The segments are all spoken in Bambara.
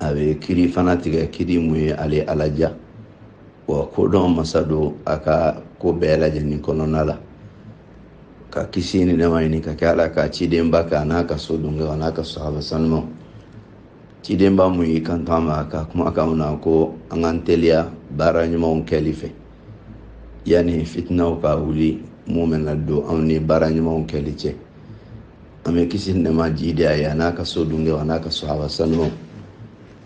a bɛ kiri fana tigɛ kiri mun ye ale ala diya wa kodɔn masa don a ka ko bɛɛ lajɛlen kɔnɔna la ka kisi ni nɛma ɲini ka kɛ ala ka cidenba kan a n'a ka so dungɛw a n'a ka sahaba sanumaw cidenba mun y'i kanto an ma a ka kumakan na ko an k'an teliya baara ɲumanw kɛli fɛ yanni fitinaw ka wuli mun bɛna don anw ni baara ɲumanw kɛli cɛ an bɛ kisi ni nɛma jiidi a ye a n'a ka so dungɛw a n'a ka sahaba sanumaw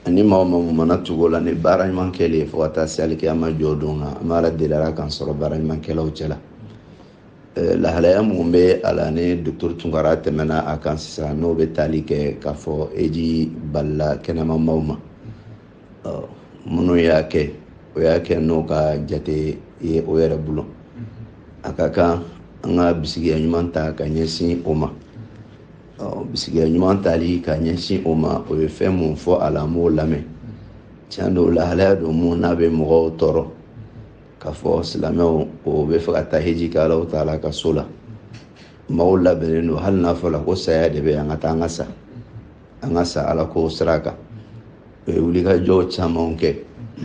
ani maa maa mana tugu u la ni baara ɲuman kɛli ye fo ka taa se alikiyama jɔ don kan an b'a la deli ala k'an sɔrɔ baara ɲumankɛlaw cɛ la lahalaya minnu bɛ a la ni docteur tunkara tɛmɛna a kan sisan n'o bɛ taali kɛ k'a fɔ heji balila kɛnɛma maaw ma minnu y'a kɛ o y'a kɛ n'o ka jate ye o yɛrɛ bolo mm-hmm. a ka kan an ka bisigiya ɲuman ta ka ɲɛsin o ma bisigiya ɲuman tali ka ɲɛsin o ma o ye fɛn mun fɔ a la an b'o lamɛn mm-hmm. tiɲɛ don lahalaya don mun n'a bɛ mɔgɔw tɔɔrɔ mm-hmm. k'a fɔ silamɛw o b'a fɛ ka taa heji kɛ Alahu taala ka so la maaw labɛnnen don hali n'a fɔra ko saya de bɛ an ka taa an ka sa an ka sa ala ko sira kan u ye wulikajɔ caman kɛ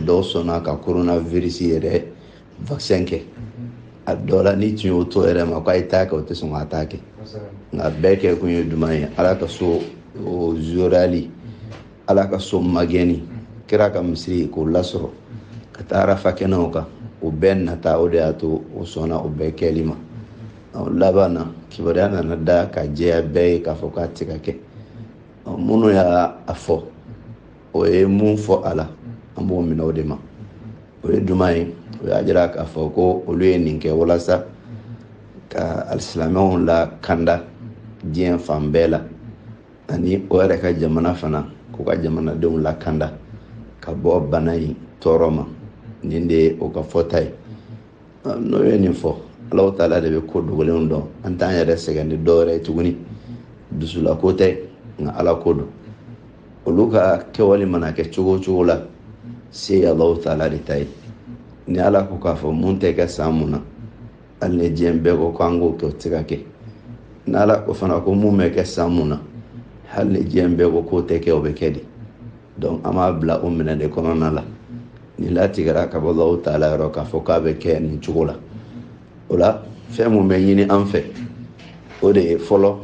dɔw sɔnna ka koronavirisi yɛrɛ vaccin kɛ a dɔw la n'i tun y'o to o yɛrɛ ma k'a ye taa a kɛ o tɛ sɔn ka taa a kɛ nka bɛɛ kɛkun ye jumɛn ye ala ka so o zorali ala ka so magɛnni kira ka misiri k'o lasɔrɔ ka taa arafa kɛnɛw kan o bɛɛ nata o de y'a to o sɔnna o bɛɛ kɛli ma laban na kibaruya nana da ka jɛya bɛɛ ye k'a fɔ k'a tɛ ka kɛ minnu y'a fɔ o ye mun fɔ a la an b'o minɛ o de ma o ye jumɛn ye o y'a jira k'a fɔ ko olu ye nin kɛ walasa ka alisilamɛw lakanda diɲɛ fan bɛɛ la ani o yɛrɛ ka jamana fana k'u ka jamanadenw lakanda ka bɔ bana in tɔɔrɔ ma nin de ye o ka fɔta ye n'o ye nin fɔ Alahu taala de bɛ ko dogolenw dɔn an t'an yɛrɛ sɛgɛn ni dɔwɛrɛ ye tuguni dusulako tɛ nka ala ko don olu ka kɛwale mana kɛ cogo o cogo la se ye Alahu taala de ta ye ni ala ko k'a fɔ mun tɛ kɛ san mun na hali ni diɲɛ bɛɛ ko k'an k'o kɛ o tɛ se ka kɛ ni ala ko fana ko mun bɛ kɛ san mun na hali ni diɲɛ bɛɛ ko k'o tɛ kɛ o bɛ kɛ de donc an b'a bila o minɛn de kɔnɔna la nin latigɛra ka bɔ Alahu taala yɔrɔ k'a fɔ k'a bɛ kɛ nin cogo la o la fɛn mun bɛ ɲini an fɛ o de ye fɔlɔ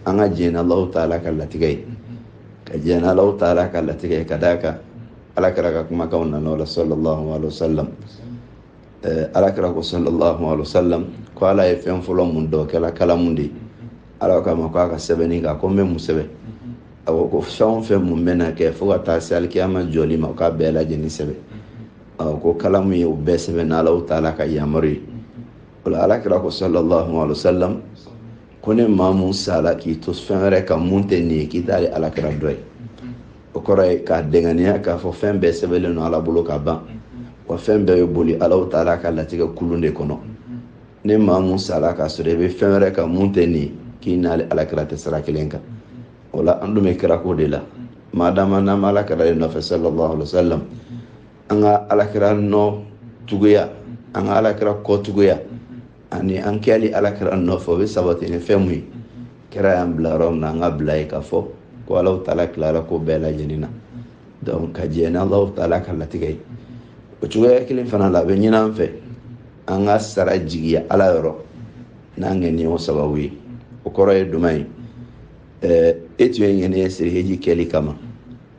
an ka jɛn Alahu taala ka latigɛ ye ka jɛn Alahu taala ka latigɛ ye ka d'a kan ala kira ka kumakanw nana o la sallallahu alaihi wa sallam ɛɛ ala kira ko sallallahu alaihi wa sallam ko ala ye fɛn fɔlɔ mun da o kɛla kalamu de ye ala k'a ma ko a ka sɛbɛnni kɛ a ko n bɛ mun sɛbɛn a ko ko fɛn o fɛn mun bɛna kɛ fo ka taa se alikiyama jɔli ma k'a bɛɛ lajɛlen sɛbɛn a ko kalamu ye o bɛɛ sɛbɛn n'alahu taala ka yamaru ye o la alakira ko sallallahu alaihi wa sallam ko ni maa mun sala k'i to fɛn wɛrɛ kan mun tɛ nin ye k'i t'ale alakira dɔ ye o kɔrɔ ye k'a dɛngɛnɛya k'a fɔ fɛn bɛɛ sɛbɛnlen don ala bolo ka ban wa fɛn bɛɛ bɛ boli alahu taala ka latigɛ kulun de kɔnɔ ni maa mun sara k'a sɔrɔ i bɛ fɛn wɛrɛ kan mun tɛ nin ye k'i n'ale alakira tɛ sira kelen kan o la an dun bɛ kira ko de la maa dama n'an bɛ alakira de nɔfɛ sallallahu alaihi wa sallam an ka alakira nɔ tuguya an ka alakira kɔ tuguya ani an kɛli alakira nɔfɛ o bɛ sabati ni fɛn mun ye kira y'an bila yɔrɔ min na an ka bila yen k'a fɔ ko alahu taala tilara ko bɛɛ lajɛlen na donc ka jɛn ni alahu taala ka latigɛ ye o cogoya kelen fana la a bɛ ɲin'an fɛ an ka sara jigiya ala yɔrɔ n'an ŋaniya sababu ye o kɔrɔ ye jumɛn ye eh, e tun ye ŋaniya siri heji kɛli kama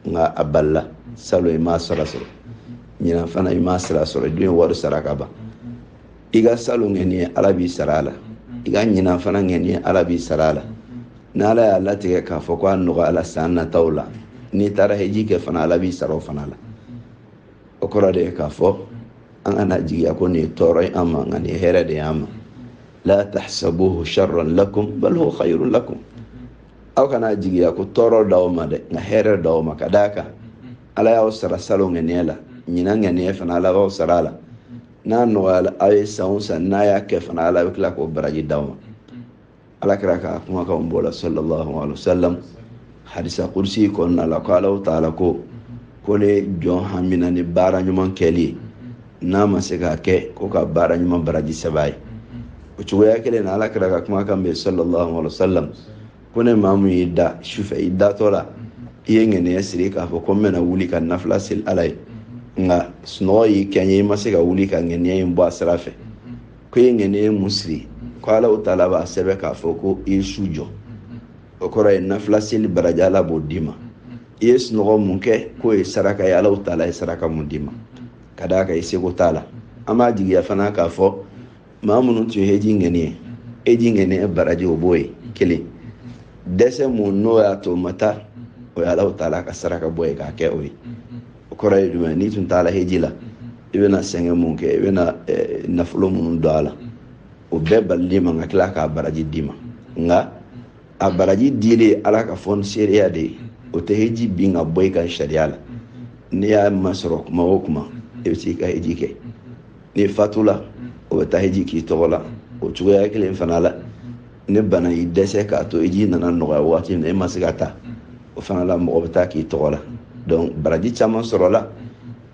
nka a balila salon i m'a sara sɔrɔ ɲinan fana i m'a sara sɔrɔ i dun ye wari sara ka ban i ka salon ŋaniya ala b'i sara a la i ka ɲinan fana ŋaniya ala b'i sara a la ni ala y'a latigɛ k'a fɔ ko a nɔgɔyala san nataw la n'i taara heji kɛ fana ala b'i sara o fana la o kɔrɔ de ye k'a fɔ an kana jigiya ko nin ye tɔɔrɔ ye an ma nka nin ye hɛrɛ de y'an ma la tahsabuhu sharran lakum bal huwa khayrun lakum aw kana jigiya ko tɔɔrɔ d'aw ma dɛ nka hɛrɛ d'aw ma ka d'a kan ala y'aw sara salon ŋaniya la ɲinan ŋaniya fana ala b'aw sara a la n'a nɔgɔyala aw ye san o san n'a y'a kɛ fana ala bɛ tila k'o baraji d'aw ma alakira ka kumakanw b'o la sallallahu alaihi wa sallam hadisi kudusi kɔnɔna la ko alahu taala ko ko ni jɔn hamina ni baara ɲuman kɛli ye n'a ma se k'a kɛ ko ka baara ɲuman baraji sɛbɛn a ye o cogoya kelen na alakira ka kumakan bɛ sallallahu alaihi wa sallam ko ni maa mun y'i da sufɛ i datɔ la i ye ŋaniya siri k'a fɔ ko n bɛna wuli ka nafila seli ala ye nka sunɔgɔ y'i kɛɲɛ i ma se ka wuli ka ŋaniya in bɔ a sira fɛ ko i ye ŋaniya mun siri ko alahu taala b'a sɛbɛn k'a fɔ ko i ye su jɔ o kɔrɔ ye nafila seli baraji ala b'o d'i ma i ye sunɔgɔ mun kɛ k'o ye saraka ye alahu taala ye saraka mun d'i ma ka d'a kan i seko t'a la an b'a jigiya fana k'a fɔ maa minnu tun ye heji ŋaniya heji ŋaniya baraji o b'o ye kelen dɛsɛ mun n'o y'a to o ma taa o ye alahu taala ka saraka bɔ ye k'a kɛ o ye o kɔrɔ ye jumɛn n'i tun taara heji la i bɛna sɛgɛn mun kɛ i bɛna eh, nafolo minnu don a la o bɛɛ balil'i ma ka tila k'a baraji d'i ma nka a baraji dilen ala ka fonisereya de ye o tɛ heji bin ka bɔ i kan sariya la n'i y'a masɔrɔ kuma o kuma i bɛ se ka heji kɛ n'i fatula o bɛ taa heji k'i tɔgɔ la o cogoya kelen fana la ni bana y'i dɛsɛ k'a to heji nana nɔgɔya waati min na e ma se ka taa o fana la mɔgɔ bɛ taa k'i tɔgɔ la donc baraji caman sɔrɔla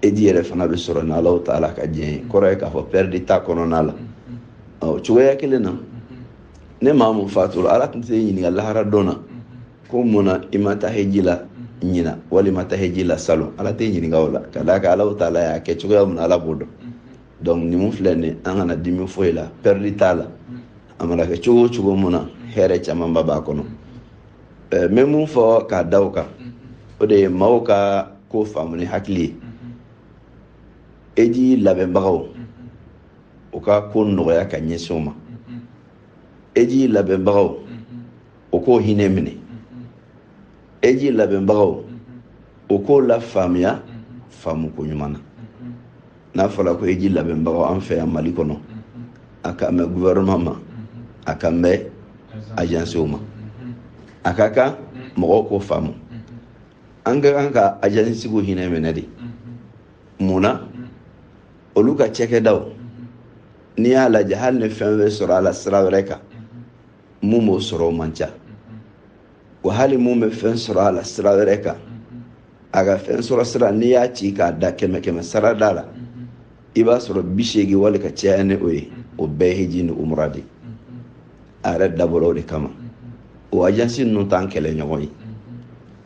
heji yɛrɛ fana bɛ sɔrɔ n'alahu taala ka diɲɛ ye kɔrɔ ye k'a fɔ pɛridi t'a kɔnɔna la ɔ cogoya kelen na ni maa mun fatura ala tun t'i ɲininka lahara don na ko mun na i ma taa heji la ɲina wali i ma taa heji la salon ala t'i ɲininka o la ka d'a kan alahu taala y'a kɛ cogoya mun na ala b'o dɔn donc nin mun filɛ nin an kana dimi foyi la pɛridi t'a la a mana kɛ cogo o cogo mun na hɛrɛ camanba b'a kɔnɔ eh, n bɛ mun fɔ k'a da o kan o de ye maaw ka ko faamu ni hakili ye heji labɛnbagaw u ka ko nɔgɔya ka ɲɛsin o ma heji labɛnbagaw o k'o hinɛ minɛ heji labɛnbagaw o k'o lafaamuya faamuko ɲuman na n'a fɔra ko heji labɛnbagaw an fɛ yan mali kɔnɔ a kan bɛ guvɛrɛnma ma a kan bɛ ajansiw ma a ka kan mɔgɔw k'o faamu an ka kan ka ajansiw hinɛ minɛ de mun na olu ka cɛkɛdaw n'i y'a lajɛ hali ni fɛn bɛ sɔrɔ a la sira wɛrɛ kan mun b'o sɔrɔ o man ca wa hali mun bɛ fɛn sɔrɔ a la sira wɛrɛ kan a ka fɛn sɔrɔ sira n'i y'a ci k'a da kɛmɛ kɛmɛsarada la i b'a sɔrɔ bi seegin wali ka caya ni o ye o bɛɛ hiji ni umura de a yɛrɛ dabɔra o de kama o ajansi ninnu t'an kɛlɛ ɲɔgɔn ye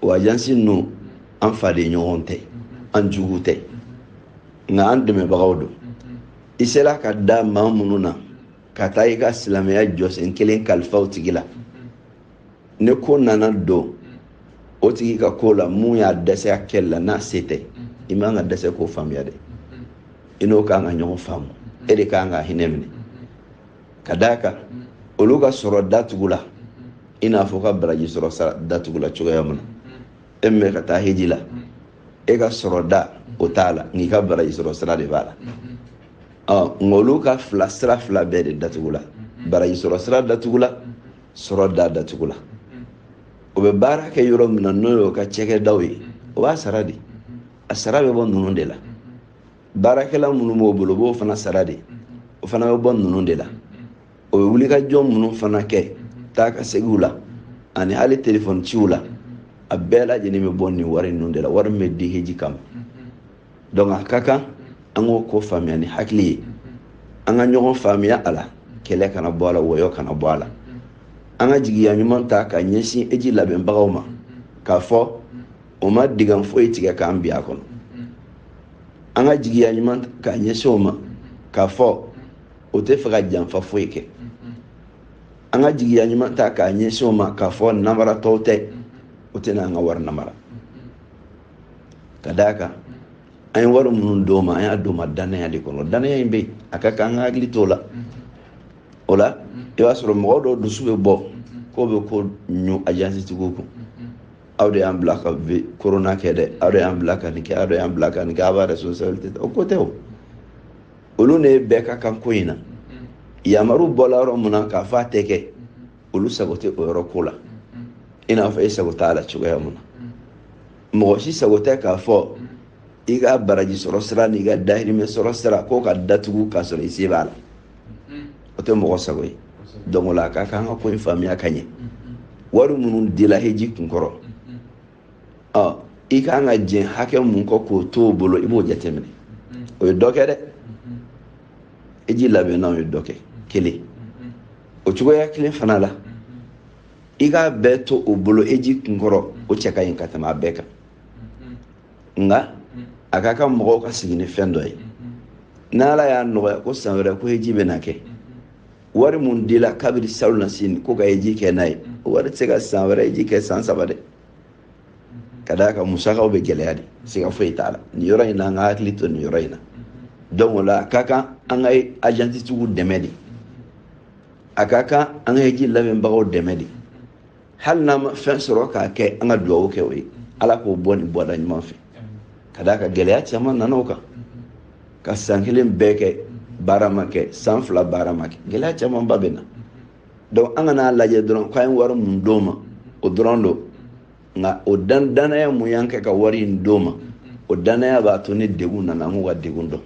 o ajansi ninnu an faden ɲɔgɔn tɛ an jugu tɛ nka an dɛmɛbagaw don i sera ka da maa minnu na ka taa i ka silamɛya jɔsen kelen kalifa o tigi la ni ko nana don o tigi ka ko la mun y'a dɛsɛ a kɛli la n'a se tɛ i man ka dɛsɛ k'o faamuya dɛ i n'o kan ka ɲɔgɔn faamu e de kan ka hinɛ minɛ ka d'a kan olu ka sɔrɔ datugula i n'a fɔ ka baraji sɔrɔ sira datugula cogoya min na e min bɛ ka taa heji la e ka sɔrɔda o t'a la nka i ka baraji sɔrɔ sira de b'a la ɔ nka olu ka fila sira fila bɛɛ de datugula baraji sɔrɔ sira datugula sɔrɔda datugula o bɛ baara kɛ yɔrɔ min na n'o y'o ka cɛkɛdaw ye o b'a sara de a sara bɛ bɔ ninnu de la baarakɛla minnu b'o bolo o b'o fana sara de o fana bɛ bɔ ninnu de la o bɛ wulikajɔ minnu fana kɛ taakaseginw la ani hali telefɔni ciw la a bɛɛ lajɛlen bɛ bɔ nin wari ninnu de la wari min bɛ di heji kama donc a ka kan an k'o ko faamuya ni hakili ye an ka ɲɔgɔn faamuya a la kɛlɛ kana bɔ a la wɔyɔ kana bɔ a la an ka jigiya ɲuman ta k'a ɲɛsin heji labɛnbagaw ma k'a fɔ o ma dingɛ foyi tigɛ k'an bin a kɔnɔ an ka jigiya ɲuman k'a ɲɛsin o ma k'a fɔ o tɛ fɛ ka janfa foyi kɛ an ka jigiya ɲuman ta k'a ɲɛsin o ma k'a fɔ namaratɔw tɛ o tɛna an ka wari namara ka d'a kan an ye wari minnu d'o ma an y'a d'o ma dannaya de kɔnɔ dannaya in bɛ a ka kan an ka hakili t'o la o la i b'a sɔrɔ mɔgɔ dɔw dusu bɛ bɔ k'o bɛ ko ɲu ajansi tigiw kun aw de y'an bila ka korona kɛ dɛ aw de y'an bila ka nin kɛ aw de y'an bila ka nin kɛ aw b'a responsabilité ta o ko tɛ o olu ni e bɛɛ ka kan ko in na yamaru bɔla yɔrɔ mun na k'a fɔ a tɛ kɛ olu sago tɛ o yɔrɔ ko la i n'a fɔ e sago t'a la cogoya mun na mɔgɔ si sago tɛ k'a fɔ i ka baraji sɔrɔ sira n'i ka dahirimɛ sɔrɔ sira k'o ka datugu k'a sɔrɔ i se b'a la o tɛ mɔgɔ sago ye donc o la a ka kan ka ko in faamuya ka ɲɛ wari minnu dila heji kun kɔrɔ ɔ i ka kan ka jɛn hakɛ mun kɔ k'o to o bolo i b'o jateminɛ o ye dɔ kɛ dɛ heji labɛnnaw ye dɔ kɛ kelen o cogoya kelen fana la i k'a bɛɛ to o bolo heji kunkɔrɔ o cɛ ka ɲi ka tɛmɛ a bɛɛ kan nka a ka kan mɔgɔw ka sigi ni fɛn dɔ ye n'ala y'a nɔgɔya ko san wɛrɛ ko heji bɛna kɛ wari mun dila kabiri salonnasini ko ka heji kɛ n'a ye o wari tɛ se ka san wɛrɛ heji kɛ san saba dɛ ka d'a kan musakaw bɛ gɛlɛya de siga foyi t'a la nin yɔrɔ in na an ka hakili to nin yɔrɔ in na donc o la a ka kan an ka ajansi tigiw dɛmɛ de a ka kan an ka heji labɛnbagaw dɛmɛ de hali n'an ma fɛn sɔrɔ k'a kɛ an ka dugawu kɛ o ye ala k'o bɔ nin bɔda ɲuman fɛ ka d'a kan gɛlɛya caman nana o kan ka san kelen bɛɛ kɛ baara ma kɛ san fila baara ma kɛ gɛlɛya camanba bɛ na donc an kan'a lajɛ dɔrɔn k'an ye wari mun d'o ma o dɔrɔn don nka o dannaya mun y'an kɛ ka wari in d'o ma o dannaya b'a to ni degun nana an k'u ka degun dɔn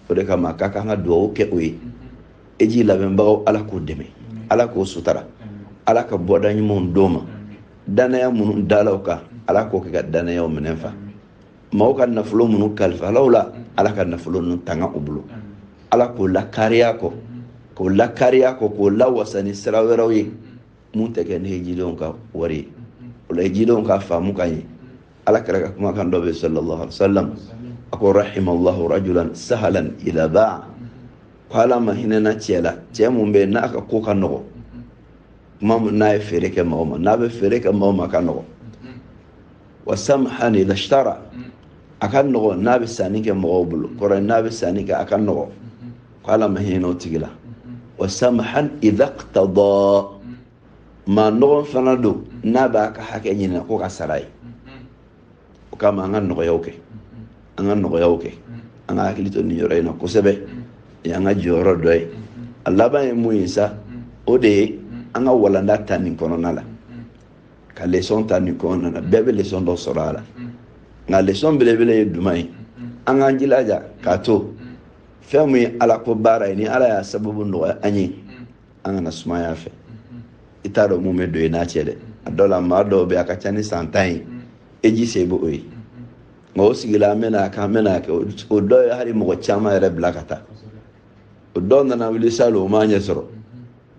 o de kama a ka kan an ka dugawu kɛ o ye heji labɛnbagaw ala k'o dɛmɛ ala k'o sutara ala ka bɔda ɲumanw d'o ma dannaya minnu dala o kan ala k'o kɛ ka dannayaw minɛn fa maaw ka nafolo minnu kalifala u la ala ka nafolo ninnu tanga u bolo ala k'o lakariya kɔ k'o lawasa ni sira wɛrɛw ye mun tɛ kɛ ni hejidenw ka wari ye o la hejidenw k'a faamu ka ɲɛ ala kira ka kumakan dɔ bɛ sallallahu alaihi wa sallam a ko rahimallahu rajulan sahalan idha ba'a ko ala ma hinɛna cɛ la cɛ mun bɛ n'a ka ko ka nɔgɔ kuma n'a ye feere kɛ mɔgɔ ma n'a bɛ feere kɛ mɔgɔ ma ka nɔgɔ wa samhan idha ishtara a ka nɔgɔ n'a bɛ sanni kɛ mɔgɔw bolo kɔrɔ ye n'a bɛ sanni kɛ a ka nɔgɔ ko ala ma hinɛ o tigi la wa samhan idha iqtada maa nɔgɔn fana don n'a b'a ka hakɛ ɲinina ko ka sara ye o kama an ka nɔgɔyaw kɛ an ka nɔgɔyaw kɛ an ka hakili to nin yɔrɔ in na kosɛbɛ nin y'an ka jɔyɔrɔ dɔ ye a laban ye mun ye sa o de ye an ka walanda ta nin kɔnɔna la ka lesɔn ta nin kɔnɔna na bɛɛ bɛ lesɔn dɔ sɔrɔ a la nka lesɔn belebele ye jumɛn ye an k'an jilaja k'a to fɛn min ye ala ko baara ye ni ala y'a sababu nɔgɔya an ye an kana sumaya fɛ i t'a dɔn mun bɛ don i n'a cɛ dɛ a dɔw la maa dɔw bɛ a ka ca ni san tan ye heji se bɛ o ye nka o sigila an bɛna a kɛ an bɛna a kɛ o dɔw ye hali mɔgɔ caman yɛrɛ bila ka taa o dɔw nana wuli salon o m'a ɲɛ sɔrɔ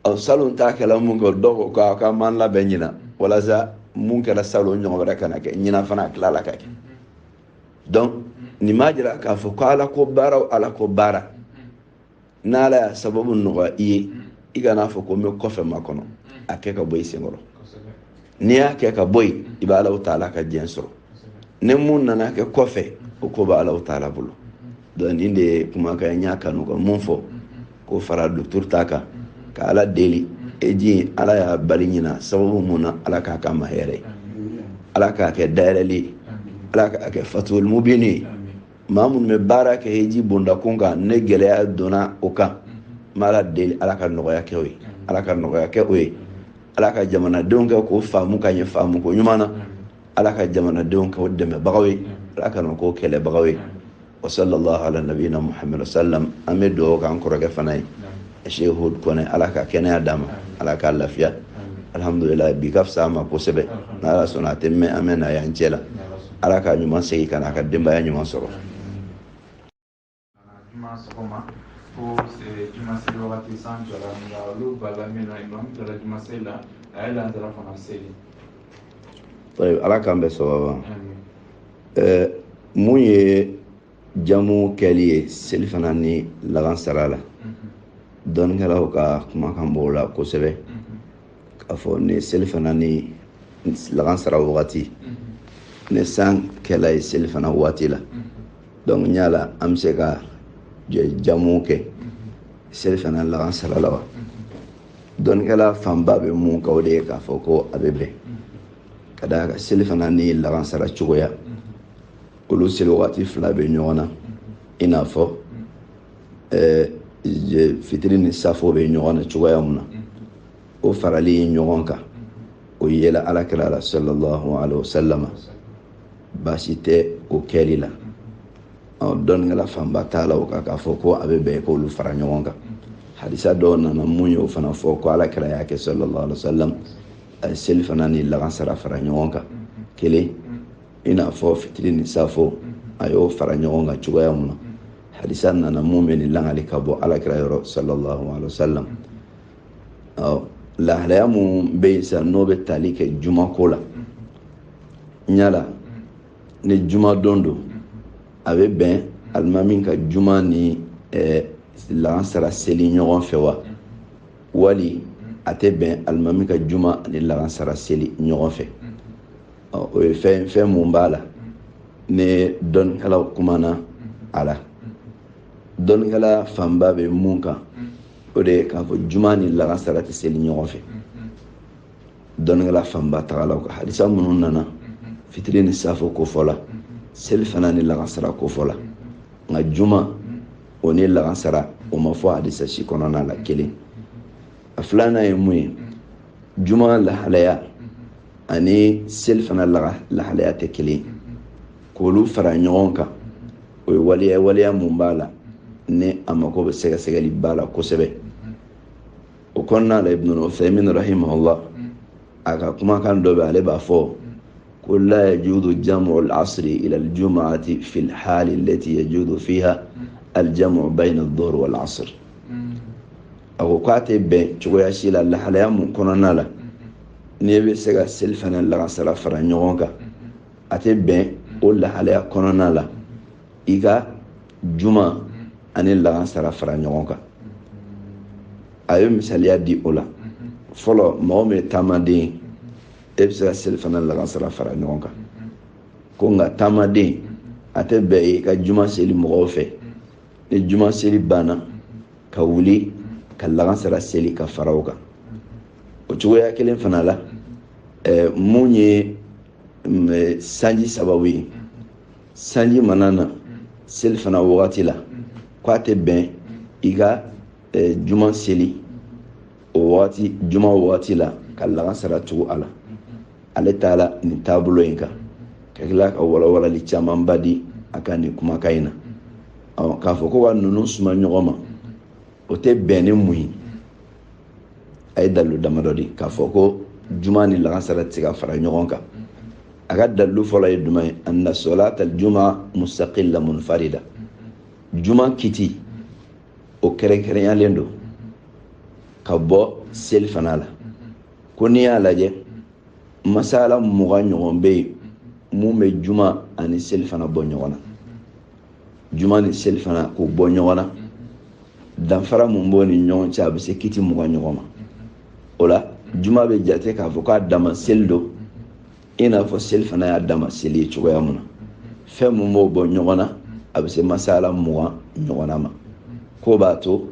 ɔ salon ta kɛla mun kɛ dɔw ko k'a ka man labɛn ɲina walasa mun kɛra salon ɲɔgɔn wɛrɛ kana kɛ ɲina fana a tilala ka kɛ donc nin m'a jira k'a fɔ ko ala ko baara o ala ko baara n'ala y'a sababu nɔgɔya i ye i kana fɔ ko n bɛ kɔfɛ makɔnɔ a kɛ ka bɔ i senkɔrɔ n'i y'a kɛ ka bɔ yen i bɛ ala taala ka diɲɛ sɔrɔ ni mun nana kɛ kɔfɛ o ko bɛ ala taala bolo donc nin de ye kumakan n y'a kanu ka mun fɔ k'o fara docteur ta kan ka ala deli heji ala y'a bali ɲina sababu mun na ala k'a k'an ma hɛrɛ ye ala k'a kɛ dayɛlɛli ye ala k'a kɛ fathul mubin ye maa minnu bɛ baara kɛ heji bɔndakun kan ni gɛlɛya donna o kan n bɛ ala deli ala ka nɔgɔya kɛ o ye ala ka nɔgɔya kɛ o ye ala ka jamanadenw kɛ k'o faamu ka ɲɛ faamu ko ɲuman na ala ka jamanadenw kɛ o dɛmɛbagaw ye ala kana k'o kɛlɛbagaw ye wa sallallahu ala nabiyina muhammad sallam an bɛ dugawu k'an kɔrɔkɛ fana ye sheikh hud kɔnɛ ala ka kɛnɛya d'a ma ala k'a lafiya alhamdulillah bi ka fisa a ma kosɛbɛ n'ala sɔnna a tɛ mɛn an bɛn'a y'an cɛ la ala k'a ɲuman segin ka na a ka denbaya ɲuman sɔrɔ juma sɔgɔma fo juma seli wagati san jɔra nka olu bala min na imamu jɔra juma seli la a ye lansara fana seli ala k'an bɛɛ sababa mun ye jamu kɛli ye selifana ni lagansara la dɔnnikɛlaw ka kumakan b'o la kosɛbɛ k'a fɔ ni selifana ni lagansara wagati ni san kɛla ye selifana waati la donc yala an bɛ se ka jamu kɛ selifana lagansara la wa dɔnnikɛla fanba bɛ mun kan o de ye k'a fɔ ko a bɛ bɛn ka d'a kan selifana ni lagansara cogoya olu seli wagati fila bɛ ɲɔgɔn na i n'a fɔ fitiri ni saafo bɛ ɲɔgɔn na cogoya mun na o farali ɲɔgɔn kan o yela alakira la sallallahu alaihi wasallam baasi tɛ o kɛli la dɔnnikɛla fanba taala o kan k'a fɔ ko a bɛ bɛn k'olu fara ɲɔgɔn kan hadisa dɔ nana mun y'o fana fɔ ko alakira y'a kɛ sallallahu alaihi wasallam a ye seli fana ni lagansara fara ɲɔgɔn kan kelen i n'a fɔ fitiri ni safo a y'o fara ɲɔgɔn kan cogoya mun na hadisa nana mun bɛ nin lakali ka bɔ alakira yɔrɔ sallallahu alaihi wasallam lahalaya mun bɛ yen sisan n'o bɛ tali kɛ juma ko la yala ni jumadon don a bɛ bɛn alimami ka juma ni eh, lagansara seli ɲɔgɔn fɛ wa wali a tɛ bɛn alimami ka juma ni lagansara seli ɲɔgɔn fɛ o ye fɛn ye fɛn mun b'a la ni dɔnnikɛlaw kumana a la dɔnnikɛla fanba bɛ mun kan o de ye k'a fɔ juma ni lagansara tɛ seli ɲɔgɔn fɛ dɔnnikɛla fanba tagala o kan hadisa minnu nana fitiri ni safo kofɔla seli fana ni lagansara kofɔla nka juma o ni lagansara o ma fɔ hadisa si kɔnɔna la kelen a filanan ye mun ye juma lahalaya ani seli fana lahalaya tɛ kelen ye k'olu fara ɲɔgɔn kan o ye waleya waleya mun b'a la ni a mako bɛ sɛgɛsɛgɛli ba la kosɛbɛ o kɔnɔna la ibnu uthaymin rahimahullah a ka kumakan dɔ bɛ ale b'a fɔ ko la yajuzu jam'u al-asri ila al-jum'ati fi al-hali allati yajuzu fiha al-jam'u bayna ad-dhuhr wal-asr a ko k'a tɛ bɛn cogoya si la lahalaya mun kɔnɔna la n'i bɛ se ka seli fana lagansara fara ɲɔgɔn kan a tɛ bɛn o lahalaya kɔnɔna la i ka juma ani lagansara fara ɲɔgɔn kan a ye misaliya di o la fɔlɔ mɔgɔ min ye taamaden ye e bɛ se ka selifana lagansara fara ɲɔgɔn kan ko nka taamaden a tɛ bɛn i ka juma seli mɔgɔw fɛ ni juma seli banna ka wuli ka lagansara seli ka fara o kan o cogoya kelen fana la mun ye sanji sababu ye sanji mana na seli fana wagati la ko a tɛ bɛn i ka juma seli o wagati juma wagati la ka lagansara tugu a la ale taala nin taabolo in kan ka tila ka walawalali camanba di a ka nin kumakan in na k'a fɔ ko ka ninnu suma ɲɔgɔn ma o tɛ bɛn ni mun ye a ye dalilu damadɔ di k'a fɔ ko juma ni lagansara tɛ se ka fara ɲɔgɔn kan a ka dalilu fɔlɔ ye jumɛn ye anna solatal juma mustaqilla munfarida juma kiti o kɛrɛnkɛrɛnyalen don ka bɔ seli fana la ko n'i y'a lajɛ masala mugan ɲɔgɔn bɛ yen mun bɛ juma ani seli fana bɔ ɲɔgɔn na juma ni seli fana k'o bɔ ɲɔgɔn na danfara mun b'o ni ɲɔgɔn cɛ a bɛ se kiti mugan ɲɔgɔn ma o la juma bɛ jate k'a fɔ k'a dama seli don i n'a fɔ seli fana y'a dama seli ye cogoya mun na fɛn mun b'o bɔ ɲɔgɔn na a bɛ se masala mugan ɲɔgɔn na ma k'o b'a to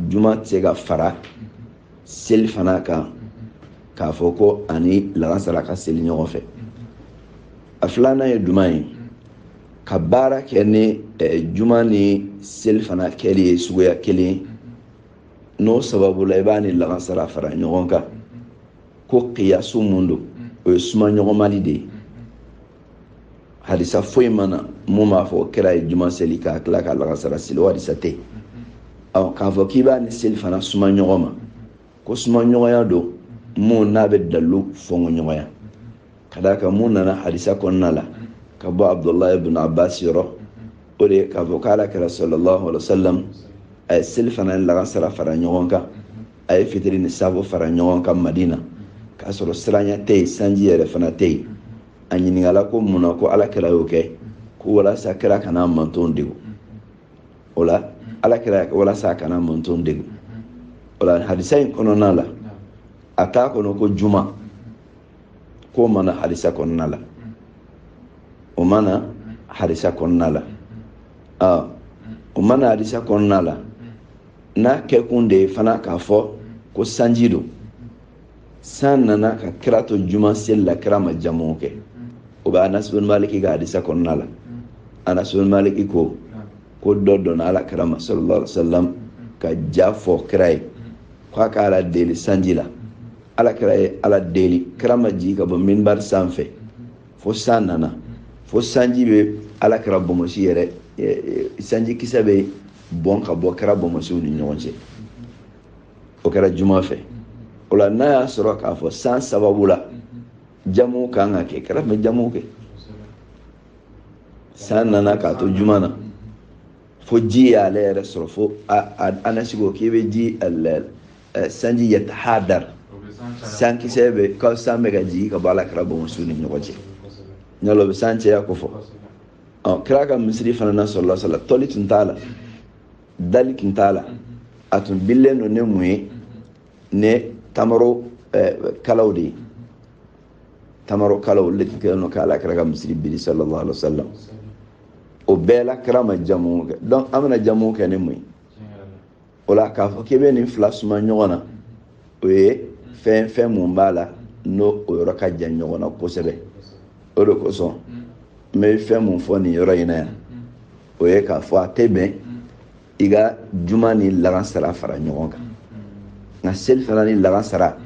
juma tɛ se ka fara seli fana kan k'a fɔ ko a ni lagansara ka seli ɲɔgɔn fɛ a filanan ye jumɛn ye ka baara kɛ ni juma ni seli fana kɛli ye suguya kelen n'o sababu la i b'a ni lagansara fara ɲɔgɔn kan ko kiyasu mun don o ye suma ɲɔgɔnmali de ye hadisa foyi ma na mun b'a fɔ kira ye juma seli k'a tila ka lagansara seli o hadisa tɛ ɔ k'a fɔ k'i b'a ni seli fana suma ɲɔgɔn ma ko suma ɲɔgɔnya don mun n'a bɛ dalu fɔnkɔ ɲɔgɔnya ka d'a kan mun nana hadisa kɔnɔna la ka bɔ abdulahi ibn abbas yɔrɔ o de ye k'a fɔ k'ala kira sallallahu alaihi wa sallam a ye seli fana ni lagansara fara ɲɔgɔn kan a ye fitiri ni safo fara ɲɔgɔn kan madina k'a sɔrɔ siranya tɛ yen sanji yɛrɛ fana tɛ yen a ɲininkala ko mun na ko ala kira y'o kɛ ko walasa kira kana mantonw degun o la ala kira walasa a kana mantonw degun o la hadisa in kɔnɔna la a t'a kɔnɔ ko juma k'o ma na hadisa kɔnɔna la o ma na hadisa kɔnɔna la o ma na hadisa kɔnɔna la n'a kɛkun de ye fana k'a fɔ ko sanji don san nana ka kira to juma seli la kira ma jamu kɛ o bɛ anasi bin maliki ka hadisa kɔnɔna la anasi bin maliki ko ko dɔ donna ala kira ma sallallahu alaihi wa sallam ka ja fɔ kira ye k'a ka ala deli sanji la ala kira ye ala deli kira ma jigin ka bɔ minbari sanfɛ fo san nana fo sanji bɛ ala kira bonbonsi yɛrɛ sanji kisɛ bɛ bɔn ka bɔ kira bonbonsiw ni ɲɔgɔn cɛ o kɛra juma fɛ o la n'a y'a sɔrɔ k'a fɔ san sababu la jamu kan ka kɛ kira tun bɛ jamu kɛ san nana k'a to juma na fo ji y'ale yɛrɛ sɔrɔ fo anasi ko k'i bɛ ji Eh, sanji yatahadar sankisɛ bɛ ka san bɛ ka jigin ka bɔ ala kira bɔmɔsiw ni ɲɔgɔn cɛ ɲɔlɔ bɛ san caya ko fɔ ɔ kira ka misiri fana na sallallahu alaihi wa sallam tɔli tun t'a la dali tun t'a la a tun bilen don ni mun ye ni tamaro eh, kalaw de ye tamaro kalaw olu de tun kɛlen don ka ala kira ka misiri biri sallallahu alaihi wa sallam o bɛɛ la kira ma jamu kɛ donc an bɛna jamu kɛ ni mun ye o la k'a fɔ k'i bɛ nin fila suma ɲɔgɔn na o ye fɛn fɛn mun b'a la n'o o yɔrɔ ka jan ɲɔgɔn na kosɛbɛ o de kosɔn n bɛ fɛn mun fɔ nin yɔrɔ in na yan o ye k'a fɔ a tɛ bɛn i ka juma ni lagansara fara ɲɔgɔn kan nka selifana ni lagansara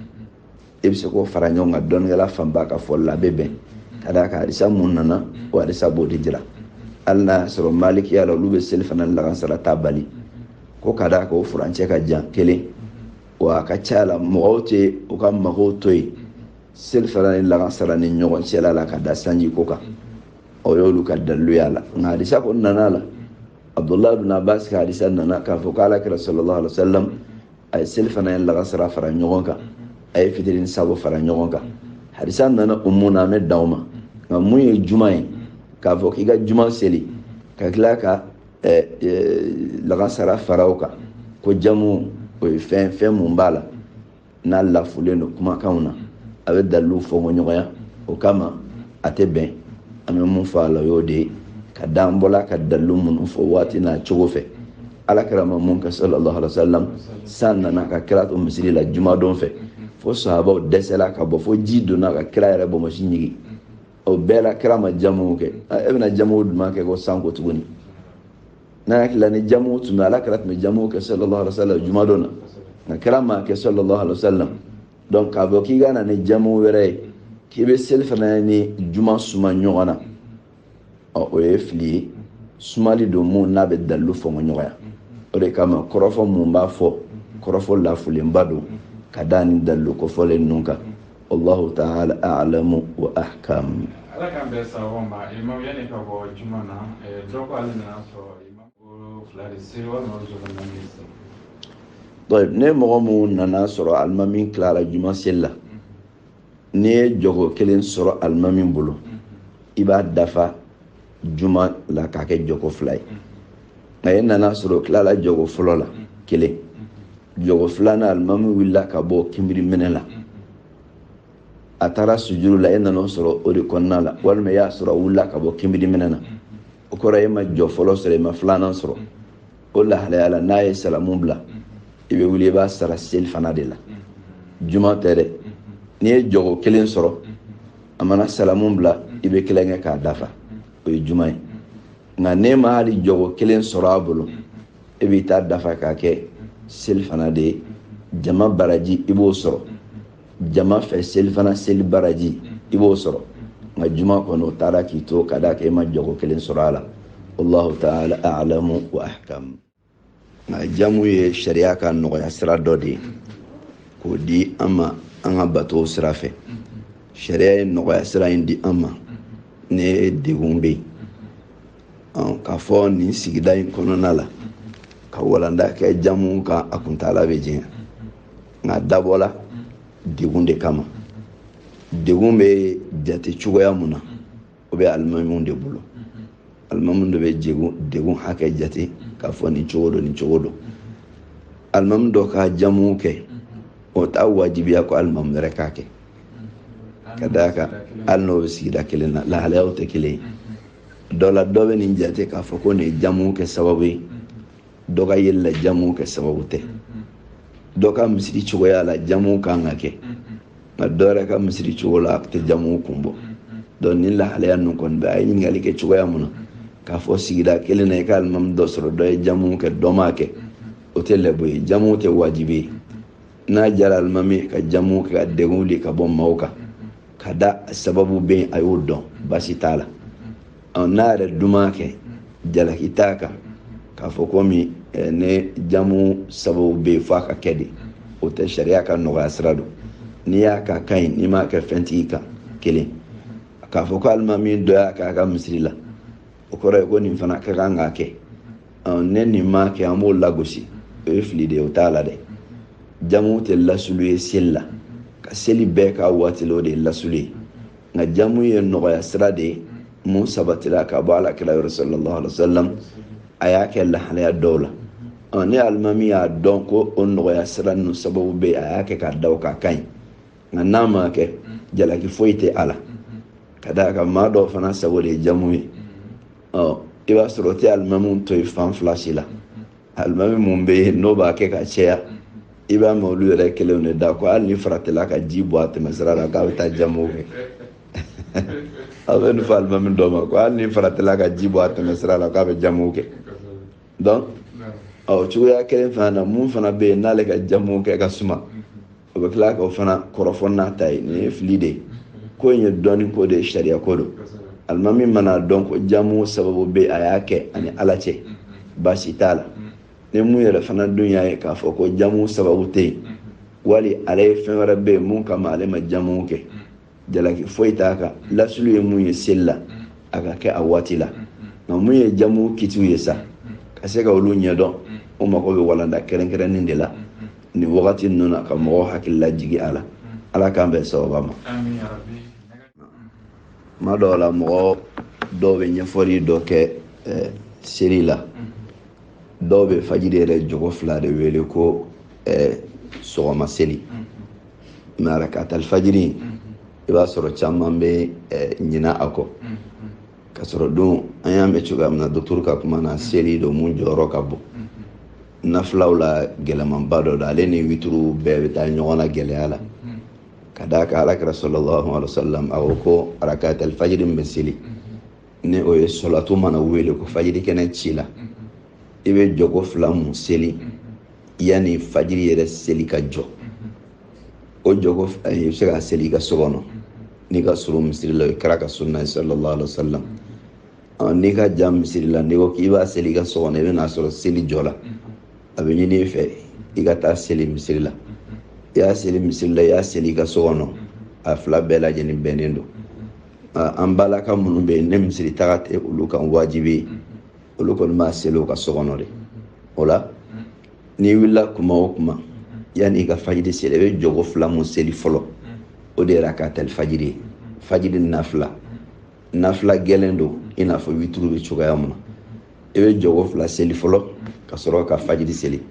e bɛ se k'o fara ɲɔgɔn kan dɔnnikɛla fanba ka fɔli la a bɛ bɛn ka d'a kan hadisa mun nana o hadisa b'o de jira hali n'a y'a sɔrɔ malikiya la olu bɛ selifana ni lagansara ta bali ko ka d'a kan o furancɛ ka jan kelen wa a ka ca la mɔgɔw tɛ u ka magow to yen selifana ni lagansara ni ɲɔgɔn cɛla la ka da sanji ko kan o y'olu ka dalilu y'a la nka hadisa ko nana la abdullahi bin abbas ka hadisa nana k'a fɔ k'ala kira sallallahu alaihi wa sallam a ye selifana ni lagansara fara ɲɔgɔn kan a ye fitiri ni saafo fara ɲɔgɔn kan hadisa nana o mun na an bɛ dan o ma nka mun ye juma ye k'a fɔ k'i ka juma seli ka tila ka eh, eh, lagansara fara o kan ko jamu o ye fɛn fɛn mun b'a la n'a lafulen don kumakanw na a bɛ dalilu fɔngɔ ɲɔgɔnya o kama a tɛ bɛn an bɛ mun fɔ a la o y'o de ye ka da an bɔla ka dalilu minnu fɔ waati n'a cogo fɛ ala kira ma mun kɛ sallallahu alaihi wasallam san nana ka kira to misiri la jumadon fɛ fo sahabaw dɛsɛla ka bɔ fo ji donna ka kira yɛrɛ bɔmɔsi ɲigi o bɛɛ la kira ma jamu kɛ e bɛna jamu jumɛn kɛ ko san ko tuguni n hakili la ni jamu tun bɛ ala kira tun bɛ jamu kɛ sallallahu alaihi wasallam jumadon na nka kira m'a kɛ sallallahu alaihi wasallam donc k'a fɔ k'i ka na ni jamu wɛrɛ ye k'i bɛ selifana ni juma suma ɲɔgɔn na ɔ o ye fili ye sumali don mun n'a bɛ dalilu fɔngɔ ɲɔgɔnya o de kama kɔrɔfɔ mun b'a fɔ kɔrɔfɔ lafulenba don ka da ni dalilu kofɔlen ninnu kan wallahu taala alamu wa ahkam ala k'an bɛn sawaba ma imamu yanni ka bɔ juma na eh, dɔ ko ale nana sɔrɔ ni mɔgɔ mun nana sɔrɔ alimami tilara juma seli la n'i ye jɔko kelen sɔrɔ alimami bolo i b'a dafa juma la k'a kɛ jɔko fila ye nka e nana sɔrɔ tilala jɔko fɔlɔ la kelen jɔko filanan alimami wulila ka bɔ kinbiri minɛ la a taara sujuru la e nana o sɔrɔ o de kɔnɔna la walima i y'a sɔrɔ a wulila ka bɔ kinbiri minɛ na o kɔrɔ e ma jɔ fɔlɔ sɔrɔ e ma filanan sɔrɔ o lahalaya la n'a ye salamu bila i bɛ wuli i b'a sara selifana de la juma tɛ dɛ n'i ye jɔgo kelen sɔrɔ a mana salamu bila i bɛ kelen kɛ k'a dafa o ye juma ye nka n'e ma hali jɔgo kelen sɔrɔ a bolo e b'i ta dafa k'a kɛ selifana de ye jama baraji i b'o sɔrɔ jama fɛ selifana seli baraji i b'o sɔrɔ nka juma kɔni o taara k'i to ka d'a kan e ma jɔgo kelen sɔrɔ a la wallahu taala alamu wa ahkam nka jamu ye sariya ka nɔgɔya sira dɔ de ye k'o di an ma an ka bato sira fɛ sariya ye nɔgɔya sira in di an ma ni degun bɛ yen k'a fɔ nin sigida in kɔnɔna la ka walanda kɛ jamu kan a kuntaala bɛ janya nk'a dabɔla degun de kama degun bɛ jate cogoya mun na o bɛ alimamiw de bolo alimamiw de bɛ degun hakɛ jate k'a fɔ nin cogo don nin cogo don alimami dɔ ka jamu kɛ o t'a wajibiya ko alimami wɛrɛ k'a kɛ ka d'a kan hali n'o bɛ sigida kelen na lahalayaw tɛ kelen ye dɔ la dɔ bɛ nin jate k'a fɔ ko nin ye jamu kɛ sababu ye dɔ ka yeli la jamu kɛ sababu tɛ dɔ ka misiri cogoya la jamu kan ka kɛ nka dɔ yɛrɛ ka misiri cogo la a tɛ jamu kun bɔ donc nin lahalaya ninnu kɔni bɛ a ye ɲininkali kɛ cogoya mun na k'a fɔ sigida kelen na i ka alimami dɔ sɔrɔ dɔ ye jamu kɛ dɔ m'a kɛ o tɛ lɛbu ye jamu tɛ wajibi ye n'a jara alimami ka jamu kɛ ka degun wuli ka bɔ maaw kan ka da sababu bɛ yen a y'o dɔn baasi t'a la n'a yɛrɛ dun m'a kɛ jalaki t'a kan k'a fɔ komi eh, ni jamu sababu bɛ yen f'a ka kɛ de o tɛ sariya ka nɔgɔya sira don n'i y'a k'a ka ɲi n'i m'a kɛ fɛn t'i kan kelen k'a fɔ ko alimami dɔ y'a k'a ka misiri la o kɔrɔ ye ko nin fana ka kan k'a kɛ ni nin m'a kɛ an b'o lagosi o ye fili de ye o t'a la dɛ jamu tɛ lasulu ye seli la ka seli bɛɛ k'a waati la o de ye lasulu ye nka jamu ye nɔgɔya sira de ye mun sabatira ka bɔ ala kira yɔrɔ sallallahu alaihi wa sallam a y'a kɛ lahalaya dɔw la ɔ ni alimami y'a dɔn ko o nɔgɔya sira ninnu sababu bɛ yen a y'a kɛ k'a da o kan a ka ɲi nka n'a ma kɛ jalaki foyi tɛ a la ka d'a kan maa dɔw fana sago de ye jamu ye ɔ i b'a sɔrɔ o tɛ alimamiw to yen fan fila si la alimami mun bɛ yen n'o b'a kɛ ka caya i b'a mɛn olu yɛrɛ kelenw de da ko hali ni faratila ka ji bɔn a tɛmɛsira la k'a bɛ taa jamu kɛ a bɛ nin fɔ alimami dɔ ma ko hali ni faratila ka ji bɔn a tɛmɛsira la k'a bɛ jamu kɛ donc ɔ cogoya kelen fana na mun fana bɛ yen n'ale ka jamu kɛ ka suma o bɛ tila k'o fana kɔrɔfɔ n'a ta ye nin ye fili de ye ko in ye dɔnni ko de ye sariya ko don alimami mana a dɔn ko jamu sababu bɛ yen a y'a kɛ a ni ala cɛ baasi t'a la ni mun yɛrɛ fana dun y'a ye k'a fɔ ko jamu sababu tɛ yen wali ale ye fɛn wɛrɛ bɛ yen mun kama ale ma jamu kɛ jalaki foyi t'a kan lasulu ye mun ye seli la a ka kɛ a waati la nka mun ye jamu kitiw ye sa ka se ka olu ɲɛdɔn o mago bɛ walanda kɛrɛnkɛrɛnnen de la nin wagati ninnu na ka mɔgɔw hakili lajigi a la ala k'an bɛn sababa ma kuma dɔw la mɔgɔ dɔw bɛ ɲɛfɔli dɔ kɛ eh, seli la dɔw bɛ fajiri yɛrɛ jɔko fila de wele ko eh, sɔgɔma seli mɛ arakatali fajiri i b'a sɔrɔ caman bɛ ɲina a kɔ k'a sɔrɔ dun an y'a mɛn cogoya min na dɔgɔtɔrɔ ka kuma na seli don mun jɔyɔrɔ ka bon nafilaw la gɛlɛnmanba dɔ don ale ni wituru bɛɛ bɛ taa ɲɔgɔn na gɛlɛya la ka d'a kan ala kira sallallahu alaihi wa sallam a ko ko arakatali fajiri min bɛ seli ni o ye sɔlatu mana wele ko fajiri kɛnɛ cila i bɛ jɔko fila mun seli yanni fajiri yɛrɛ seli ka jɔ o jɔko i bɛ se k'a seli i ka so kɔnɔ n'i ka surun misiri la o ye kira ka sunna ye sallallahu alaihi wa sallam n'i ka jan misiri la n'i ko k'i b'a seli i ka so kɔnɔ i bɛ n'a sɔrɔ seli jɔla a bɛ ɲini i fɛ i ka taa seli misiri la i y'a seli misiri la i y'a seli i ka so kɔnɔ a fila bɛɛ lajɛlen bɛnnen don an balaka minnu bɛ yen ni misiri taga tɛ olu kan wajibi ye olu kɔni b'a seli u ka so kɔnɔ de o la n'i wulila kuma o kuma yanni i ka fajiri seli i bɛ jɔko fila mun seli fɔlɔ o de ye arakatali fajiri ye fajiri nafila nafila gɛlɛn don i n'a fɔ witiri bɛ cogoya mun na i bɛ jɔko fila seli fɔlɔ ka sɔrɔ ka fajiri seli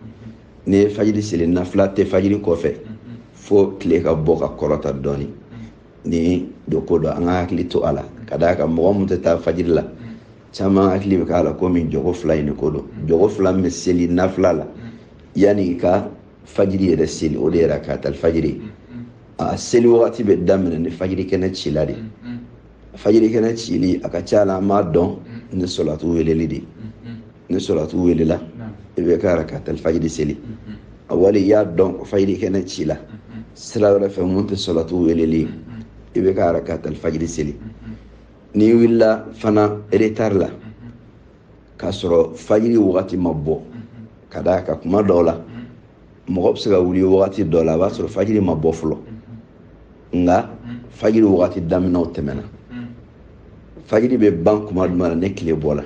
n'i ye fajiri seli nafila tɛ fajiri kɔfɛ fo tile ka bɔ ka kɔrɔta dɔɔnin nin dun ko don an k'an hakili to a la ka d'a kan mɔgɔ mun tɛ taa fajiri la caman hakili bɛ k'a la komi jɔko fila in de ko don jɔko fila min bɛ seli nafila la yanni i ka fajiri yɛrɛ seli o de ye arakatali fajiri a seli wagati bɛ daminɛ ni fajiri kɛnɛ cila de fajiri kɛnɛ cili a ka ca la an b'a dɔn ni sɔlatu weleli de ni sɔlatu welela i b'i ka arakatali fajiri seli a wali i y'a dɔn fajiri kɛnɛ cila sira wɛrɛ fɛ mun tɛ sɔlatu weleli ye i b'i ka arakatali fajiri seli n'i wulila fana eretari la k'a sɔrɔ fajiri wagati ma bɔ ka d'a kan kuma dɔw la mɔgɔ bɛ se ka wuli wagati dɔ la a b'a sɔrɔ fajiri ma bɔ fɔlɔ nka fajiri wagati daminɛ o tɛmɛna fajiri bɛ ban kuma jumɛn na ni tile bɔla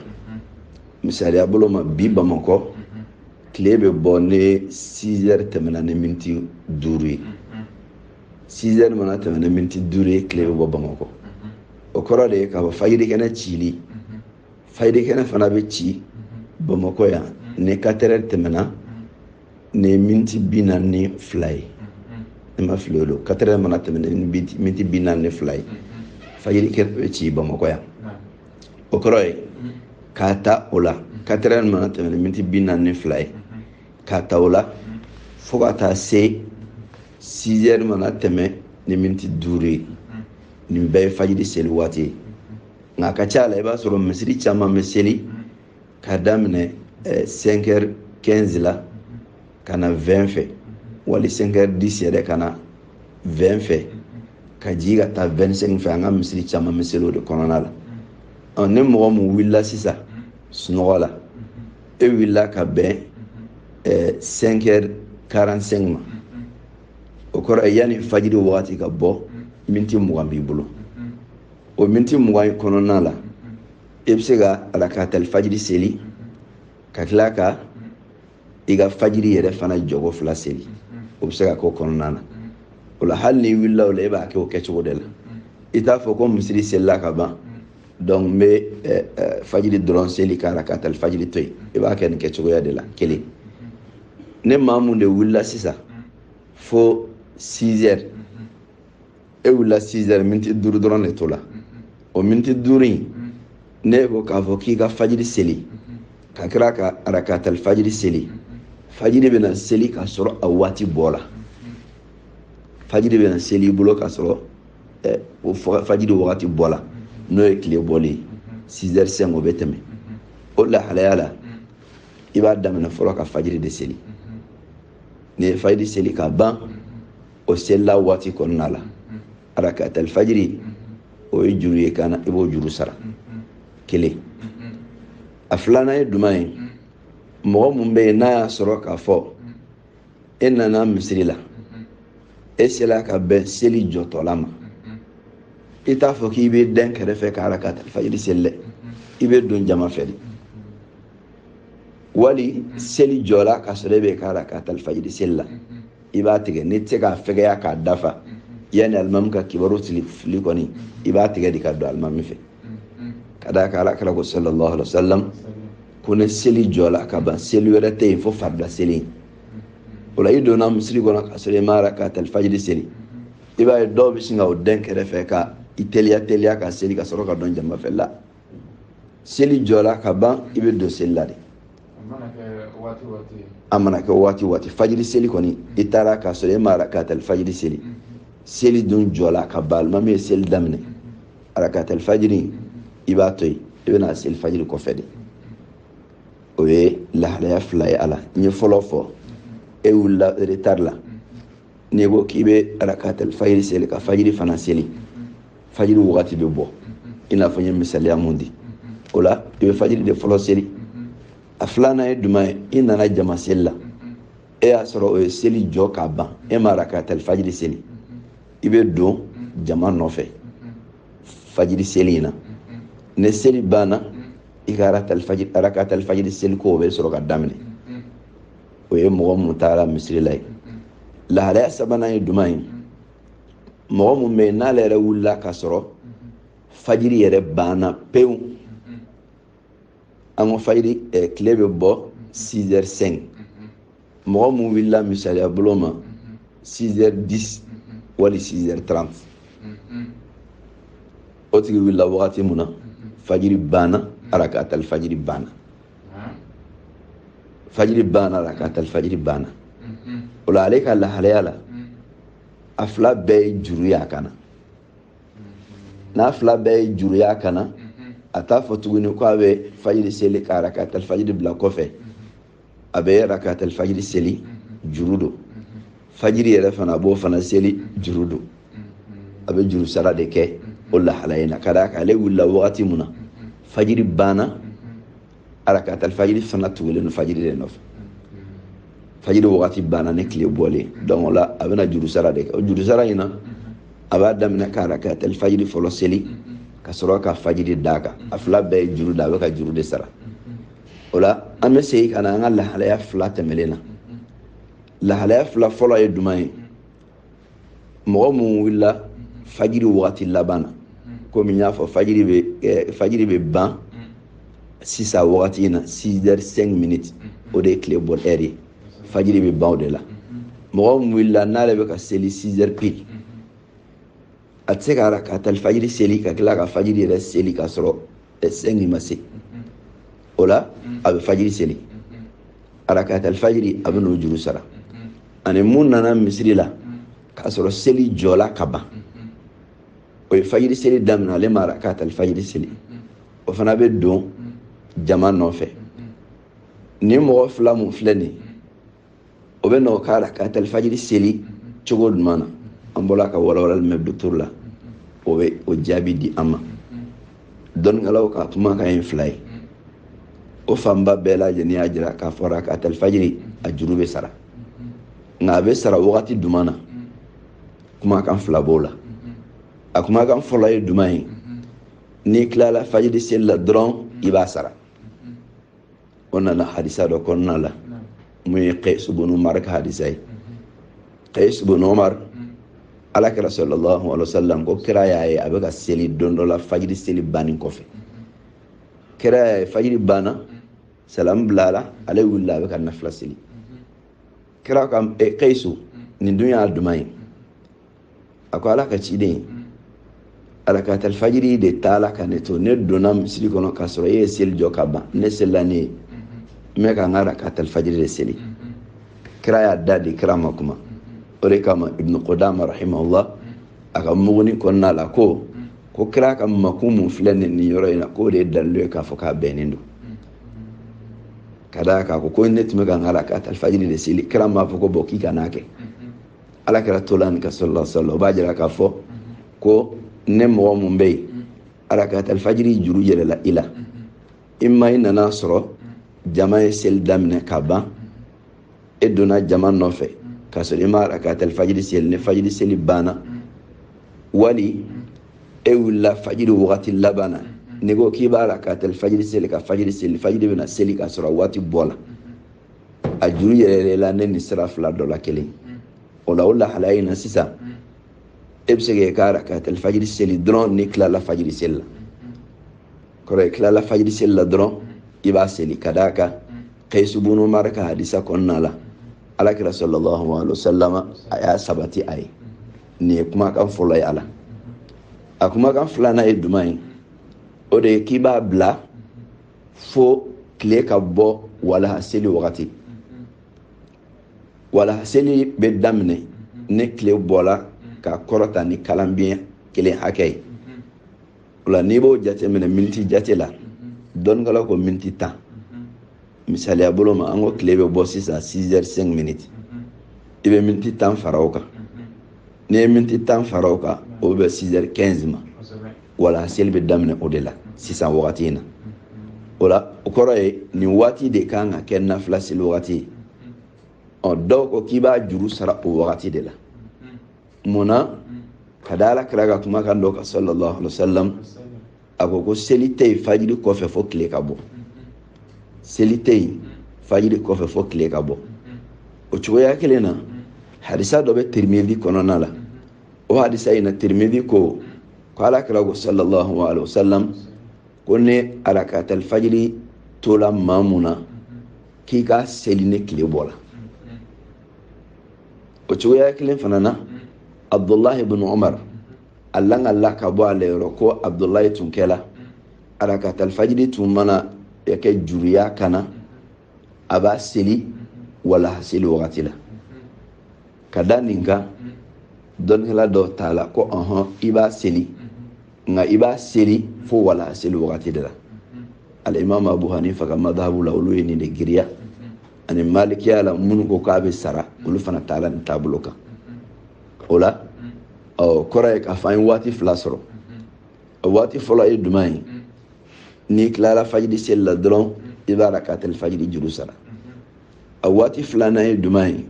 misaliya bolo ma bi bamakɔ tile bɛ bɔ ni 6 heures tɛmɛna ni miniti duuru ye 6 heures mana tɛmɛ ni miniti duuru ye tile bɛ bɔ bamakɔ o kɔrɔ de ye k'a fɔ fajiri kɛnɛ cili fajiri kɛnɛ fana bɛ ci bamakɔ yan ni katɛrɛ tɛmɛna ni miniti bi naani ni fila ye ni n ma fili o don katɛrɛ mana tɛmɛ ni miniti bi naani ni fila ye fajiri kɛnɛ bɛ ci bamakɔ yan o kɔrɔ ye k'a ta o la katɛrɛ mana tɛmɛ ni miniti bi naani ni fila ye k'a ta o la fo ka taa se sizɛri mana tɛmɛ ni miniti duuru ye nin bɛɛ ye fajiri seli waati ye nka a ka ca a la i b'a sɔrɔ misiri caman bɛ seli k'a daminɛ eh, sɛnkɛri kɛnzi la ka na wɛn fɛ wali sɛnkɛri disi yɛrɛ ka na wɛn fɛ ka jigi ka taa wɛn sɛnki fɛ an ka misiri caman bɛ seli o de kɔnɔna la ɔ ni mɔgɔ min wulila sisan sunɔgɔ la e wulila ka bɛn eh, sɛnkɛri karan sɛnki ma o kɔrɔ yanni fajiri wagati ka bɔ miniti mugan b'i bolo o miniti mugan in kɔnɔna la i bɛ se ka arakatali fajiri seli ka tila ka i ka fajiri yɛrɛ fana jɔgo fila seli o bɛ se ka k'o kɔnɔna na o la hali n'i wulila o la e b'a kɛ o kɛcogo de la i t'a fɔ ko misiri selila ka ban donc n bɛ eh, eh, fajiri dɔrɔn seli ka arakatali fajiri to yen i b'a kɛ nin kɛcogoya de la kelen ni maa mun de wulila sisan fo 6 heures e wulila 6 heures miniti duuru dɔrɔn de tola o miniti duuru in n'e ko k'a fɔ k'i ka fajiri seli ka tila ka arakatal fajiri seli fajiri bɛna seli k'a sɔrɔ a waati bɔla fajiri bɛna seli i bolo k'a sɔrɔ eh, o fajiri wagati bɔla n'o ye tile bɔlen ye 6 heures 5 o bɛ tɛmɛ o lahalaya la i b'a daminɛ fɔlɔ ka fajiri de seli n'i ye fajiri seli ka ban o selila waati kɔnɔna la arakata alfajiri o ye juru ye i kan na i b'o juru sara kelen a filanan ye jumɛn ye mɔgɔ mun bɛ yen n'a y'a sɔrɔ k'a fɔ e nana misiri la e sela ka bɛn seli jɔtɔla ma i t'a fɔ k'i bɛ dɛn kɛrɛfɛ ka arakata alfajiri seli dɛ i bɛ don jama fɛ de wali seli jɔra ka sɔrɔ e bɛ ka arakata alfajiri seli la i b'a tigɛ n'i tɛ se k'a fɛgɛya k'a dafa yanni alimami ka kibaru sili fili kɔni i b'a tigɛ de ka don alimami fɛ ka d'a kan ala kira ko sallallahu alaihi wa sallam ko ni seli jɔla ka ban seli wɛrɛ tɛ yen fo farida seli in o la i donna misiri kɔnɔ ka sɔrɔ i ma arakatali fajiri seli i b'a ye dɔw bɛ sin ka o dɛn kɛrɛfɛ ka i teliya teliya ka seli ka sɔrɔ ka don jama fɛ la seli jɔla ka ban i bɛ don seli la de a mana kɛ waati waati fajiri seli kɔni i taara k'a sɔrɔ e ma arakatali fajiri seli seli dun jɔla ka ban alimami ye seli daminɛ arakatali fajiri i b'a to yen i bɛna seli fajiri kɔfɛ de o ye lahalaya fila ye a la n ye fɔlɔ fɔ e wulila retari la n'i ko k'i bɛ arakatali fajiri seli ka fajiri fana seli fajiri wagati bɛ bɔ i n'a fɔ n ye misaliya mun di o la i bɛ fajiri de fɔlɔ seli a filanan ye juman ye i nana jama seli la e y'a sɔrɔ o ye seli jɔ k'a ban e ma rakatali fajiri seli i bɛ don jama nɔfɛ fajiri seli in na ni seli banna i ka arakatali fajiri seli ko o bɛ sɔrɔ ka daminɛ o ye mɔgɔ mun taara misiri la ye lahalaya sabanan ye juman ye mɔgɔ mun bɛ yen n'ale yɛrɛ wulila ka sɔrɔ fajiri yɛrɛ banna pewu an ko fajiri eh, tile bɛ bɔ 6 heures 5 mɔgɔ mun wulila misaliya bolo ma 6 heures 10 wali 6 heures 30 o tigi wulila wagati mun na fajiri banna arakatal fajiri banna fajiri banna rakatali fajiri banna o la ale ka lahalaya la a fila bɛɛ ye juru y'a kan na n'a fila bɛɛ ye juru y'a kan na a t'a fɔ tuguni ko a bɛ fajiri seli ka rakatali fajiri bila kɔfɛ a bɛ rakatali fajiri seli juru don fajiri yɛrɛ fana a b'o fana seli juru don a bɛ juru sara de kɛ o lahalaya in na ka d'a kan ale wulila wagati mun na fajiri banna arakatali fajiri fana tugulen don fajiri de nɔfɛ fajiri wagati banna ni tile bɔlen donc o la a bɛna juru sara de kɛ o juru sara in na a b'a daminɛ ka arakatali fajiri fɔlɔ seli ka sɔrɔ ka fajiri d'a kan a fila bɛɛ ye juru don a bɛ ka juru de sara o la an bɛ segin ka na an ka lahalaya fila tɛmɛlen na lahalaya fila fɔlɔ ye juman ye mɔgɔ min wulila fajiri wagati laban na komi n y'a fɔ fajiri bɛ eh, fajiri bɛ ban sisan wagati in na 6 heures 5 minutes o de ye tile bɔ ɛri ye fajiri bɛ ban o de la mɔgɔ min wulila n'ale bɛ ka seli 6 heures pile a tɛ se ka arakatal fajiri seli ka tila ka fajiri yɛrɛ seli k'a sɔrɔ eh, sɛngi ma se o la a bɛ fajiri seli arakatal fajiri a bɛn'o juru sara ani mun nana misiri la k'a sɔrɔ seli jɔla ka ban o ye fajiri seli daminɛ ale ma arakatal fajiri seli o fana bɛ don jama nɔfɛ nin mɔgɔ fila mun filɛ nin ye o bɛn'o ka arakatal fajiri seli cogo jumɛn na an bɔra ka walawalali mɛn docteur la o bɛ o jaabi di an ma dɔnnikɛlaw ka kumakan ye fila ye o fanba bɛɛ lajɛlen y'a jira k'a fɔ rakatal fajiri a juru bɛ sara nka a bɛ sara wagati jumɛn na kumakan fila b'o la a kumakan fɔlɔ ye jumɛn ye n'i tilala fajiri seli la dɔrɔn i b'a sara o nana hadisa dɔ kɔnɔna la mun ye kais bunu umar ka hadisa ye kais bunu umar ala kira sallallahu alaihi wasallam ko kira y'a ye a bɛ ka seli don dɔ la fajiri seli bannen kɔfɛ kira y'a ye fajiri banna salamu bilala ale wulila a bɛ ka nafila seli kira ko eh, kaisu nin dun ye jumɛn ye a ko ala ka ciden arakatal fajiri de taala ka ne to ne donna misiri kɔnɔ k'a sɔrɔ e ye seli jɔ ka ban ne selila ne ye n bɛ ka n ka rakatal fajiri de seli kira y'a dadɛ kira ma kuma o de kama ibnu kudama rahimahullah a ka muguni kɔnɔna la ko ko kira ka makun mun filɛ nin nin yɔrɔ in na k'o de ye dalilu ye k'a fɔ k'a bɛnnen don ka d'a kan a ko ko ne tun bɛ ka n ka arakatal fajiri de seli kira m'a fɔ ko bɔn k'i kan'a kɛ ala kira tola nin kan sallallahu alaihi wasallam o b'a jira k'a fɔ ko ni mɔgɔ mun bɛ yen arakatal fajiri juru yɛlɛla i la i ma i nan'a sɔrɔ jama ye seli daminɛ ka ban e donna jama nɔfɛ k'a sɔrɔ i ma rakatali fajiri seli ni fajiri seli banna wali e wulila fajiri wagati laban na n'i ko k'i bɛ rakatali fajiri seli ka fajiri seli fajiri bɛna seli k'a sɔrɔ waati bɔla a juru yɛlɛla ni nin sira fila dɔ la kelen o la o lahalaya in na sisan e bɛ se k'i ka rakatali fajiri seli dɔrɔn n'i tilala fajiri seli la kɔrɔ ye tilala fajiri seli la dɔrɔn i b'a seli ka d'a kan kayisu bunu umar ka hadisa kɔnɔna la ala kira sallallahu alaihi wasallam a y'a sabati a ye nin ye kumakan fɔlɔ ye a la a kumakan filanan ye jumɛn ye o de ye k'i b'a bila fo tile ka bɔ walaha seli wagati walaha seli bɛ daminɛ ni tile bɔla ka kɔrɔta ni kalanbiɲɛ kelen hakɛ ye o la n'i b'o jate minɛ miniti jate la dɔnnikɛlaw ko miniti tan misaliya bolo ma an ko tile bɛ bɔ sisan 6 heures 5 minutes i bɛ miniti tan fara o kan n'i ye miniti tan fara o kan o bɛ bɛn 6 heures 15 ma walaha seli bɛ daminɛ o de la sisan wagati in na o la o kɔrɔ ye nin waati de ka kan ka kɛ nafila seli wagati ye ɔ dɔw ko k'i b'a juru sara o wagati de la mun na ka da ala kira ka kumakan dɔ kan sallallahu alaihi wa sallam a ko ko seli tɛ yen fajiri kɔfɛ fo tile ka bɔ seli tɛ yen fajiri kɔfɛ fo tile ka bɔ o cogoya kelen na hadisa dɔ bɛ tirimidi kɔnɔna la o hadisa in na tirimidi ko ko ala kira ko sallallahu alaihi wa sallam ko ni arakatali fajiri tola maa mun na k'i k'a seli ni tile bɔla o cogoya kelen fana na abdullahi bin umar a lakalila ka bɔ ale yɔrɔ ko abdullahi tun kɛla arakatali fajiri tun mana kɛ juru y'a kan na a b'a seli walaha seli wagati la ka da nin kan dɔnnikɛla dɔw taala ko ɔhɔn i b'a seli nka i b'a seli fo walaha seli wagati de la alimami abu hanifa ka madahabu la olu ye nin de giriya ani malikiya la minnu ko k'a bɛ sara olu fana taala nin taabolo kan o la o kɔrɔ ye k'a fɔ an ye waati fila sɔrɔ a waati fɔlɔ ye jumɛn ye n'i tilala fajiri seli la dɔrɔn i b'arakatali fajiri juru sara a waati filanan ye jumɛn ye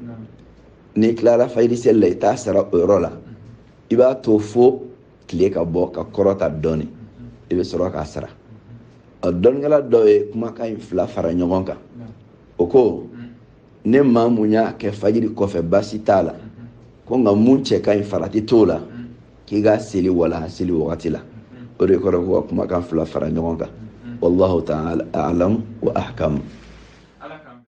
n'i tilala fajiri seli la i t'a sara o yɔrɔ la i b'a to fo tile ka bɔ ka kɔrɔta dɔɔni i bɛ sɔrɔ k'a sara a dɔnnikɛla dɔ ye kumakan in fila fara ɲɔgɔn kan o ko ni maa mun y'a kɛ fajiri kɔfɛ baasi t'a la ko nka mun cɛ ka ɲi farati t'o la k'i k'a seli walaha seli wagati la o de kɔrɔ ko ka kumakan fila fara ɲɔgɔn kan wallahu ta'ala a'lam wa ahkam